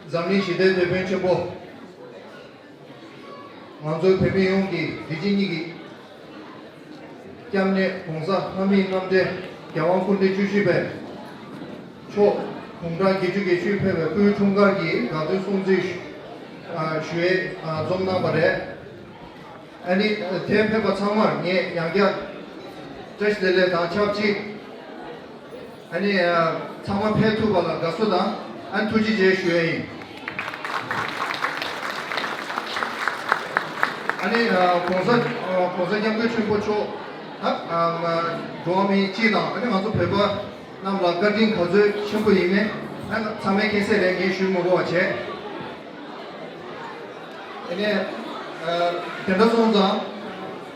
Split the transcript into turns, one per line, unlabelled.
འཛམ་གླིང་ཞི་བདེའི་དེད་དཔོན་ཆེན་པོ། ང་ཚོའི་བོད་མི་ཡོངས་ཀྱིས་བདེ་སྐྱིད་གཉིས་ཀྱི། སྐྱབས་གནས ྋགོང་ས་ལྷ་མིའི་རྣམ་འདྲེན་རྒྱལ་དབང་སྐུ་ཕྲེང་བཅུ་བཞི་པའི། མཆོག་དགུང་གྲངས་བརྒྱད་ཅུ་དགེ་བཅུའི་ཕེབས་པའི་སྐུའི་འཁྲུངས་སྐར་གྱི་དགའ་སྟོན་སྲུང་བརྩི་ཞུས་འཛོམས་གནང་བ་རེད། ཨ་ནི་དེ་ཕེབས་པ་ཚང་མར་ངས་ཡང་བསྐྱར་བཀྲ་ཤིས་བདེ་ལེགས་དང་ཆབས་ཅིག། ཨ་ནི། ཚང་མ་ཕེབས་ཐུབ་པ་ལ་དགའ་བསུ་དང་ཨ་ནི་ཐུགས་རྗེ་ཆེ་ཞུ་ཡ་ཡིན། ཨ་ནི། གོང་ས་གོང་ས་སྐྱབས་མགོན་ཆེན་པོ་མཆོག་ད་འགྲོ་བ་མི་སྤྱི་དང་ཨ་ནི་ང་ཚོ་བོད་པ་རྣམས་ལ་བཀའ་དྲིན་ག་ཚོད་ཆེན་པོ་ཡིན་མེད་ཨ་ནི་ཚང་མའི་མཁྱེན་གསལ་རེད་ངས་ཞུས་མི་གོ་བ་བྱས། ཨ་ནི། དེ་འདྲ་སོང་ཙང།